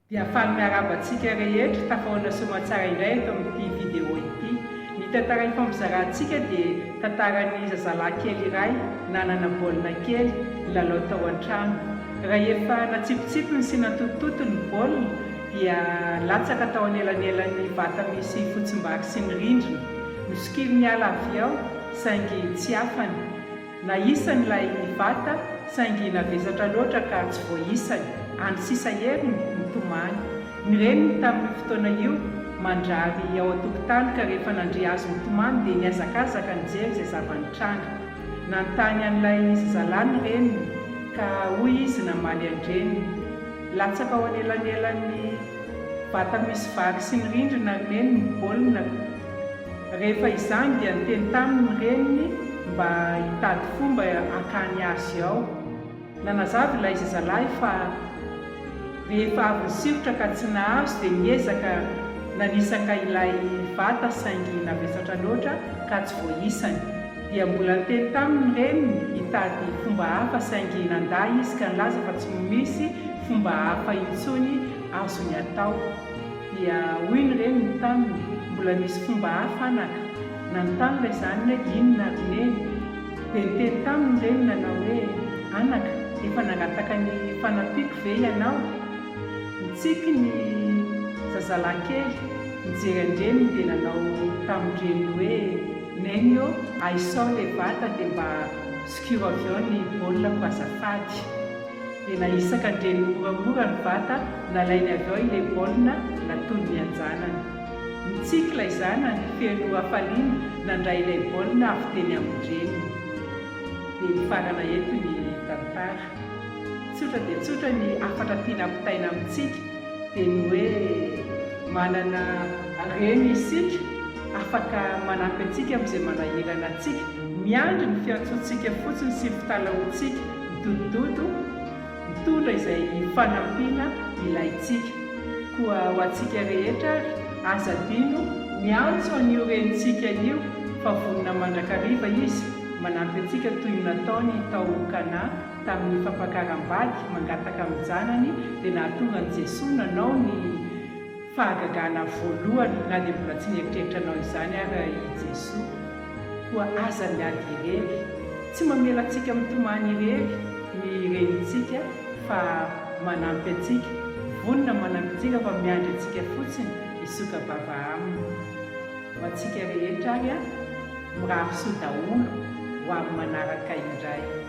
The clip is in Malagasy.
Dia faly miarahaba antsika rehetra tafahoana soamantsara indray eto amin'ity vidéo ity. Ny tantara hifampizarantsika dia tantaran'ny zazalahy kely iray nanana baolina kely nilalao tao an-trano. Rahefa natsipitsipiny sy nantotototony ny baolina dia latsaka tao anelanelan'ny vata misy fotsimbary sy ny rindrina. Nosokiriny hiala avy ao saingy tsy hafany. na isany ilay vata saingy navesatra loatra ka tsy voaisany, any sisa heriny nitomany. Ny reniny tamin'io fotoana io mandrary ao an-tokotany ka rehefa nandre azy nitomany dia nihazakazaka nijery izay zava-nitranga. Nanontany an'ilay zazalahy ny reniny ka hoy izy namaly an-dreniny, Latsaka ao anelanelan'ny vata misy vary sy ny rindrina ry neny ny baolinako. Rehefa izany dia niteny taminy ny reniny mba hitady fomba hakany azy ao. Nanazava ilay zazalahy fa rehefa avy nisikrotra ka tsy nahazo dia niezaka nanisaka ilay vata saingy navesatra loatra ka tsy voaisany. Dia mbola niteny taminy ny reniny hitady fomba hafa saingy nandà izy ka nilaza fa tsy misy fomba hafa intsony azony atao. Dia hoy ny reniny taminy, mbola misy fomba hafa anaka. Nanontany ilay zanany hoe inona ady neny. Dia niteny taminy ny reniny nanao hoe, anaka, efa nangataka ny fanampiako ve ianao? Nitsiky ny zazalahy kely, nijery an-dreniny dia nanao tamin-dreniny hoe, neny ô, ahisao ilay bata dia mba zokiro avy ao ny baolina ko azafady. dia nahisaka an-dreny moramora ny vata nalainy avy ao ilay baolina natonin'ny anjanany. Nitsinkla i zanany feno hafaliana nandray ilay baolina avy teny amin-dreniny. Dia mifarana eto ny tantara. Tsotra dia tsotra ny hafatra tiana ampitaina amintsika dia ny hoe manana reny isika afaka manampy antsika amin'izay manahirana antsika, miandry ny fiantsoantsika fotsiny sy ny fitalahoantsika. Dodododo, mitondra izay fanampiana ilaintsika. Koa ho antsika rehetra ary, aza adino miantso an'io Renintsika io fa vonona mandrakariva Izy, manampy antsika toy ny nataony tao Kana tamin'ny fampakaram-bady mangataka amin'ny janany dia nahatonga an'i Jesoa nanao ny Fahagagana voalohany, na dia mbola tsy nieritreritra hanao izany ara i Jesoa. Koa aza miady irery. Tsy mamela antsika mitomany irery ny renintsika fa manampy antsika, vonona manampy antsika fa miandry antsika fotsiny hisoka-bava Aminy. Ho antsika rehetra ary an! Mirary soa daholo ho amin'ny manaraka indray.